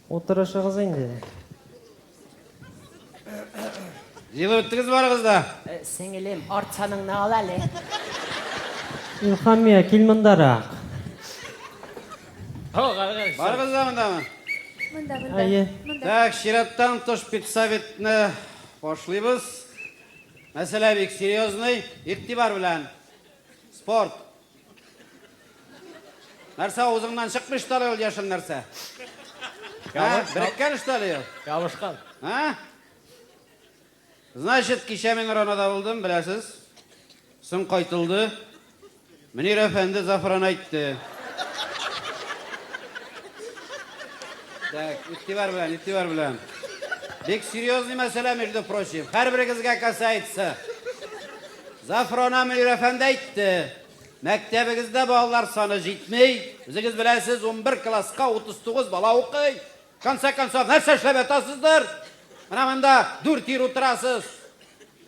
Утырышыгыз инде. Җылы үттегез барыгыз да. Э, сеңелем, артсаныңны ал әле. Илхамия, кил мондарак. Барыгыз да мондамы? Монда, монда. Әйе. Так, чираттан тыш педсоветны Башлыйбыз. Мәсьәлә бик серьезный. Игътибар белән. Спорт. Нәрсә авызыңнан чыкмый что ли ул яшел нәрсә? Ә? Береккән что ли ул? Ябышкан. Ә? Значит, кичә мин Ронада булдым, беләсез. Соң кайтылды. Мөнир әфәнде Зафран әйтте. Так, игътибар белән, игътибар белән. Бик серьезный мәсьәлә, между прочим. Һәрберегезгә касается. Зафрана Мөнир әфәнде әйтте. Мәктәбегездә балалар саны җитмей. Үзегез беләсез, 11 класска 39 бала укый. Конце концов, нәрсә эшләп ятасыздыр? Менә монда дүрт ир утырасыз.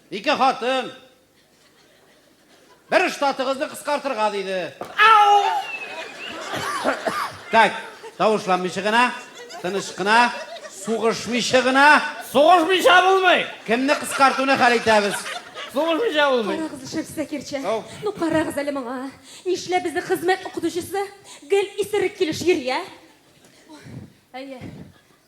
Ике хатын, Бер штатыгызны кыскартырга, диде. Ау! Так, тавышланмыйча гына, тыныч кына, сугышмыйча гына. Сугышмыйча булмый! Кемне кыскартуны хәл итәбез? Сугышмыйча булмый. Карагыз, шеф Закирча. Ау. Ну, карагыз әле моңа. Нишләп безнең хезмәт укытучысы гел исерек килеш йөри, ә? Әйе,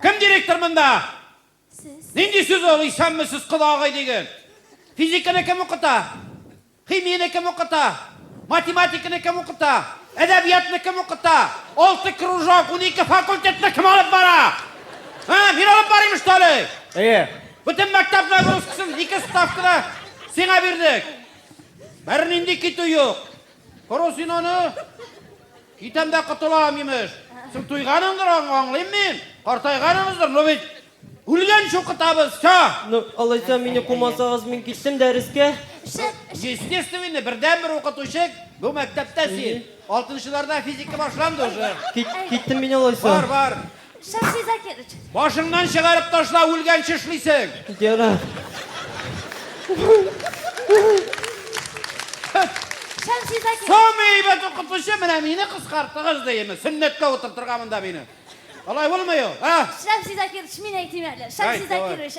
Кем директор монда? Сез. Нинди сүз ул исәнме сез кодагый диген? Физиканы кем укыта? Химияне кем укыта? Математиканы кем укыта? Әдәбиятны кем укыта? Алты кружок, унике факультетны кем алып бара? Ә, мин алып барыйм что ли? Әйе. Бөтен мәктәп нагрузкасын ике ставкада сиңа бирдек. Бернинди китү юк. Коры син аны! Китәм дә котылам, имеш. Син туйганың аңлыйм мин. Картайганыгыздыр, но бит үлгән шукытабыз, все! Ну, алайса мине кумасагыз, мин киттем дәрескә. Естественно, бердәнбер укытучы бу мәктәптә син. Алтынчыларда физика башланды уже. Кит, киттем мин алайса. Бар, бар. Шәмшидә килеш. Башыңнан чыгарып ташла, үлгәнче эшлисең. Ярар. Шәмшидә килеш. Самый әйбәт укытучы менә мине кыскартыгыз диеме? Сөннәткә утыртырга монда мине. Алай булмый ул, а? Шәмшидә килеш, мин әйтим әле. Шәмшидә килеш.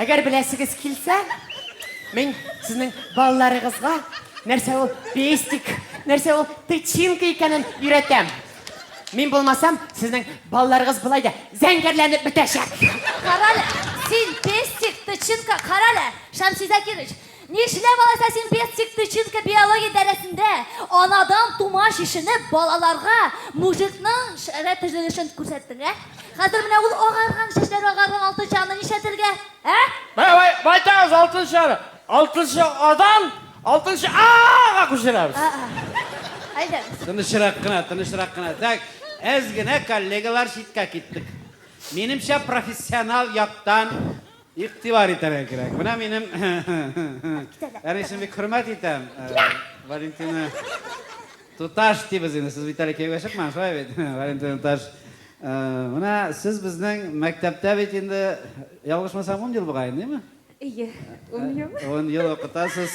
Әгәр беләсегез килсә, мин сезнең балаларыгызга нәрсә ул пестик, нәрсә ул тычинка икәнен өйрәтәм. Мин булмасам, сезнең балаларыгыз болай да зәңгәрләнеп бетәчәк. Карале, син пестик, тычинка, карале, Шәмси Закирович, Нишләп алайса син без тик тычинка биология дәресендә анадан тума чишенеп балаларга мужикның шәрә төзелешен күрсәттең, ә? Хәзер менә ул агарган, чәчләре агарган алтынчы аны нишләтергә, ә? Бай, байтагыз алтынчы аны. Алтынчы Адан алтынчы Ага күчерәбез. А-а. Әйдәгез. Тынычрак кына, тынычрак кына. Так, әз генә коллегалар читкә киттек. Минемчә профессионал яктан Игътибар итәргә кирәк. Менә минем әнисен бик хөрмәт итәм. Валентина туташ дибез инде. Сез бит әле кияүгә чыкмаган, шулай бит? Валентина туташ. Менә сез безнең мәктәптә бит инде, ялгышмасам, ун ел бугай, димме? Ие, ун ел. Ун ел укытасыз.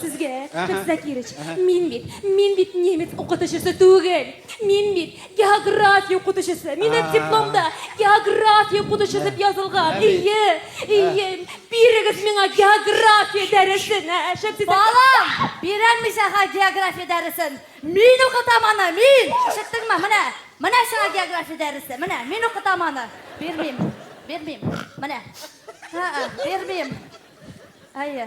Сезгә, Закирыч, мин бит, мин бит немец укытучысы түгел. Мин бит география укытучысы. Минем дипломда география укытучысы дип язылган. Ие, ие, бирегез миңа география дәресен, ә, Шәмсизә. Балам, бирәм мин сиңа география дәресен. Мин укытам аны, мин. Ишеттеңме? Менә, менә сиңа география дәресе. Менә, мин укытам аны. Бирмим, бирмим. Менә. Ха-ха, бирмим. Әйе.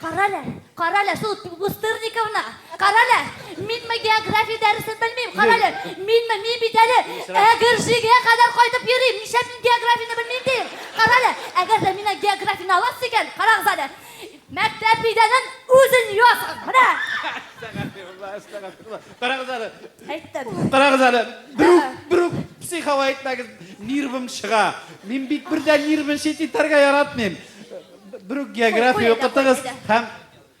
Карале, карале, шул Бустырниковна. Карале, мин ме география дәресен белмим. Карале, мин ме мин бит әле Әгерҗегә кадәр кайтып йөрим. Нишләп мин географияне белмим дим? Карале, әгәр дә мин географияне аласыз икән, карагыз әле. Мәктәп бидәнен үзен ясагыз. Менә. Әстәгәфирулла, әстәгәфирулла. Карагыз әле. Әйттем. Карагыз әле. Берүк, берүк психова әйтмәгез. Нервым чыга. Мин бит бердә нервын чит итәргә яратмыйм. Бер үк география укытыгыз һәм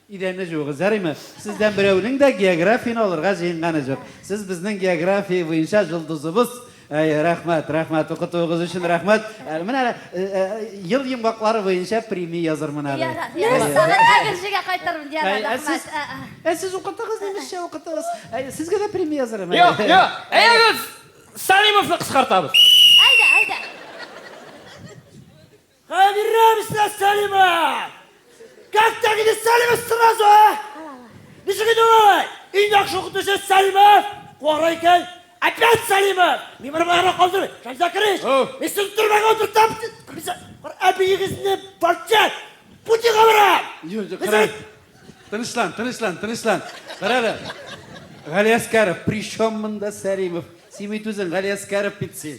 идәнне җуыгыз, ярыймы? Сездән берәүнең дә географияне алырга җыенганы җук. Сез безнең география буенча җолдызыбыз. Әй, рәхмәт, рәхмәт, укытуыгыз өчен рәхмәт. Ә, Менә әле, э, э, ел йомгаклары буенча премия язырмын әле. Ярар, Әй, ярар. Сагын әгерҗегә кайтырмын, ярар, Әй, ә сез, рәхмәт. Ә, ә. ә сез укытыгыз, немецчә укытыгыз. Әй, Сезгә дә премия язырмын. әле. Юк, юк. Әйдәгез, Салимовны кыскартабыз. Әйдә, әйдә. Кайгырмыйсың, Сәлимә! Как так иде Сәлимә сразу, а? Ничек иде ул? Иң яхшы укытучы Сәлимә, кара икән. Опять Сәлимә! Мин бер бара калдыр, Шамза Кырыч! Мин син төрмәгә утыртам! Әбиегезне бакча! Пути кабырам! Тынычлан, тынычлан, тынычлан. Карале. Галиәскәров, при чем монда Сәлимов? Син бит үзең Галиәскәров бит син.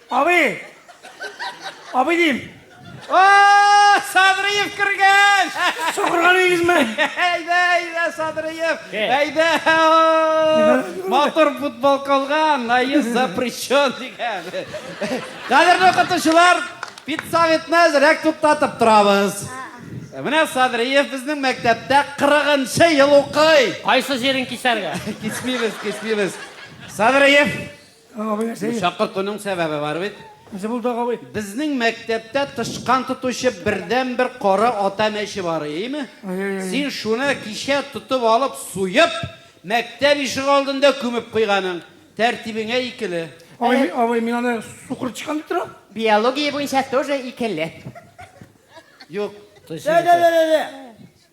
Абый! Абый дим! О, Садриев кергән! Сукырган идегезме? Әйдә, әйдә, Садриев! Әйдә! Матур футбол калган, наез запрещен дигән. Кадерле укытучылар, педсоветны әзрәк туктатып торабыз. Менә Садриев безнең мәктәптә 40 ел укый. Кайсы җирен кисәргә? Кисмибез, кисмибез. Садриев, Абый нәрсә? Чакыртуның сәбәбе бар бит. Нәрсә булды тагы абый? Безнең мәктәптә тычкан тотучы бердән бер кара ата мәче бар, име? Син шуны кичә тотып алып, суеп, мәктәп ишеге алдында күмеп куйганың. Тәртибеңә икеле. Абый, абый, мин аны сукыр тычкан дип торам. Биология буенча тоже икеле. Юк. Тә-тә-тә-тә-тә!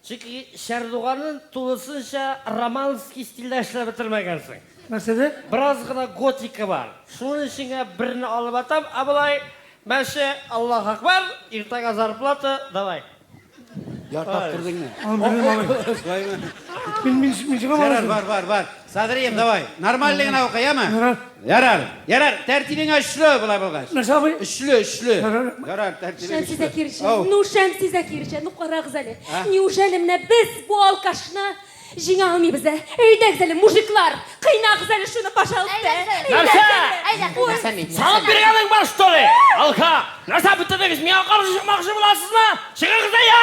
Чөнки Чардуганын тулысынча романский стильдә эшләп бетермәгәнсең. Нәрсәдә? Бераз гына готика бар. Шуның өчен генә берне алып атам, ә болай, мәче, Аллаһ Акбар, иртәгә зарплата, давай. Ярты автордыйңмы? Аның беренен алыйм. Сулаймы? Мин, мин, мин чыгам алай Ярар, булса. бар, бар, бар. Садрием, давай, нормальный гына укы, яме? Ярар. Ярар. Ярар, тәртибең очлы болай булгач. Нәрсә абый? Очлы, очлы. Ярар. Ярар, тәртибең Шәмси очлы. Закирҗан, Ау. ну Шәмси Закирҗан, ну карагыз әле. А? Неужели менә без бу алкашны җиңә алмыйбыз, ә? Әйдәгез әле, мужиклар, кыйнагыз әле шуны, пожалуйста. Әйдәгез. Нәрсә? Әйдә, кызым. Нәрсә мин? Салып биргәнең бар, что ли? Алка! Нәрсә бетердегез? Миңа каршы чыкмакчы буласызмы? Чыгыгыз да я!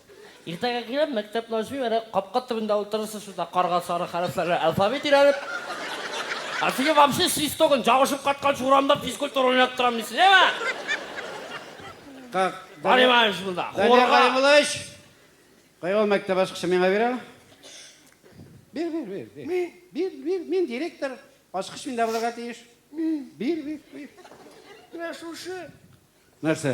Иртәгә килеп, мәктәпне ачмыйм, әнә капка төбендә утырырсыз шунда карга сары хәрефләргә алфавит өйрәнеп. Ә сиңа вообще чистогын чабышып катканчы урамда физкультура уйнап торам мин сиңа. Как? Понимаешь монда. Данияр Галимуллович! Кая ул мәктәп ачкычы миңа бир әле. Бир, бир, бир, бир. Мин. Бир, бир, мин директор. Ачкыч миндә булырга тиеш. Мин. Бир, бир, бир. Менә шушы. Нәрсә?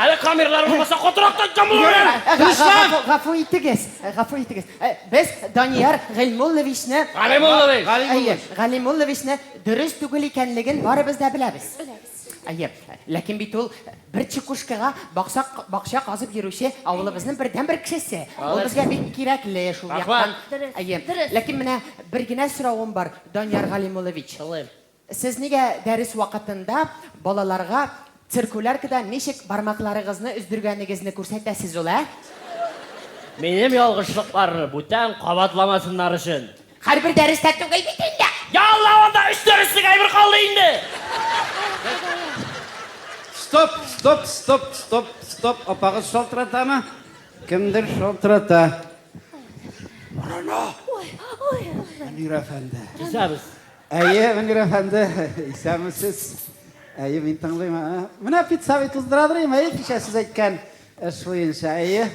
Әле камерлар булмаса, котырактан чамалый! Юрий, га- га- Руслан! гафу- гафу итегез, э, гафу итегез. Э, Без Данияр Гыйльмулловичны Галимуллович! Әйе, Галимулловичны дөрес түгел икәнлеген барыбыз да беләбез. Әйе, ләкин бит ул бер чекушкага баксак, бакча казып йөрүче авылыбызның бердәнбер кешесе. Ул безгә бик кирәкле шул Рәхмәт. яктан. Дөрес, Әйе, дөрес. ләкин менә бер генә соравым бар, Данияр Галимуллович. Тыңлыйм. Сез нигә дәрес вакытында балаларга циркуляркада ничек бармакларыгызны өздергәнегезне күрсәтәсез ул, ә? Минем ялгышлыкларны бүтән кабатламасыннар өчен. Һәрбер дәрестә түгел бит инде! Я Алла, анда өч дәреслек әйбер калды инде! Стоп, стоп, стоп, стоп, стоп, апагыз шалтыратамы? Кемдер шалтырата. Борыны! Мөнир әфәнде. Түзәбез. Әйе, Венгер әфәнде, исәнмесез. Әйе, мин тыңлыйм. Менә пиццави туздырадырыйм, әйе, кичә сез әйткән эш буенча. Әйе,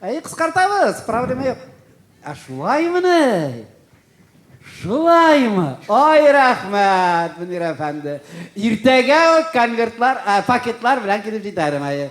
әйе, кыскартабыз, проблема юк. Ә шулаймыни? Шулаймы? Ай, рәхмәт, Венгер әфәнде. Иртәгә үк конвертлар, пакетлар белән килеп җитәрем, әйе.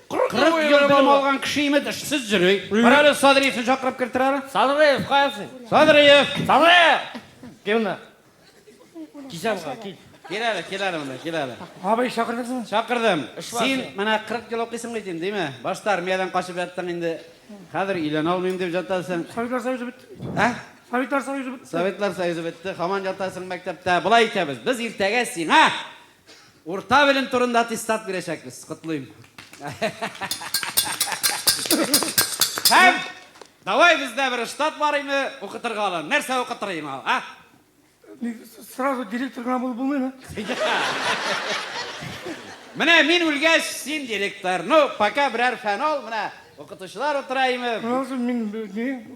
Кырык ел белем алган кеше имет эшсез йөри. Бар әле Садриевны чакырып кертер әле. Садриев, кая син? Садриев! Садриев! Кил монда. Кисәмга, кил. Кил әле, кил әле монда, кил әле. Абый, чакырдыңызмы? Чакырдым. Син менә 40 ел укыйсың бит инде, диме? Башта армиядән качып яттың инде. Хәзер өйләнә алмыйм дип җатасың. Советлар Союзы бетте бит. Ә? Советлар Союзы бетте. Советлар Союзы бетте, хаман ятасың мәктәптә. Болай итәбез, без иртәгә сиңа Урта белем турында аттестат бирәчәкбез. Котлыйм. Һәм давай бездә бер штат бар име, укытырга алар. Нәрсә укытыр инде ул, а? Сразу директор гына булып булмыймы? Менә мин үлгәч, син директор. Ну, пока берәр фән ал, менә укытучылар утыра име? Мин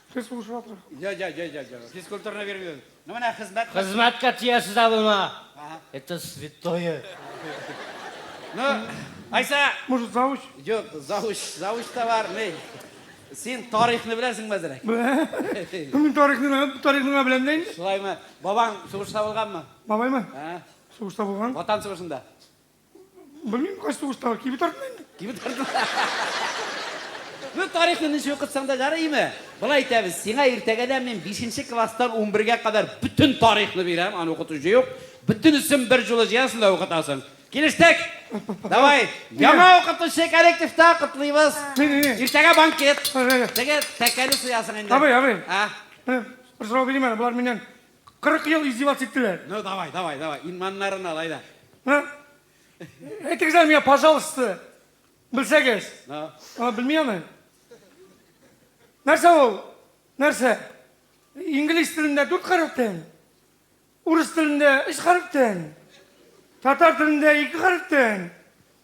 Физкультура. Я, я, я, я, я. Физкультураны бирмибез. Ну менә хезмәт. Хезмәткә тиясез дә булма. Это святое. Ну, Айса. Может, завуч? Юк, завуч, завуч та бар, мей. Син тарихны беләсең мәзерәк. Мин тарихны беләм, тарихны да беләм дәйм. Шулаймы? Бабаң сугышта булганмы? Бабаймы? Сугышта булган. Ватан сугышында. Белмим, кайсы сугыштагы кибет артында инде. Кибет артында. Ну, тарихны ничек укытсаң да ярыймы? Болай итәбез, сиңа иртәгәдән мин 5 класстан 11-гә кадәр бөтен тарихны бирәм, аны укытучы юк. Бөтенесен бер җулы җыясың да укытасың. Килештек? Давай. Яңа укытучы коллективта котлыйбыз. Иртәгә банкет. Теге тәкәне суясың инде. Абый, абый. А? Бер сорау бирим әле, болар миннән 40 ел издеваться иттеләр. Ну, давай, давай, давай, инманнарын алай да. Ә? Әйтегез әле миңа, пожалуйста, белсәгез. Ну. Ана белми аны. Нәрсә ул? Нәрсә? Инглиз телендә дүрт хәрефтән, урыс телендә өч хәрефтән, татар телендә ике хәрефтән,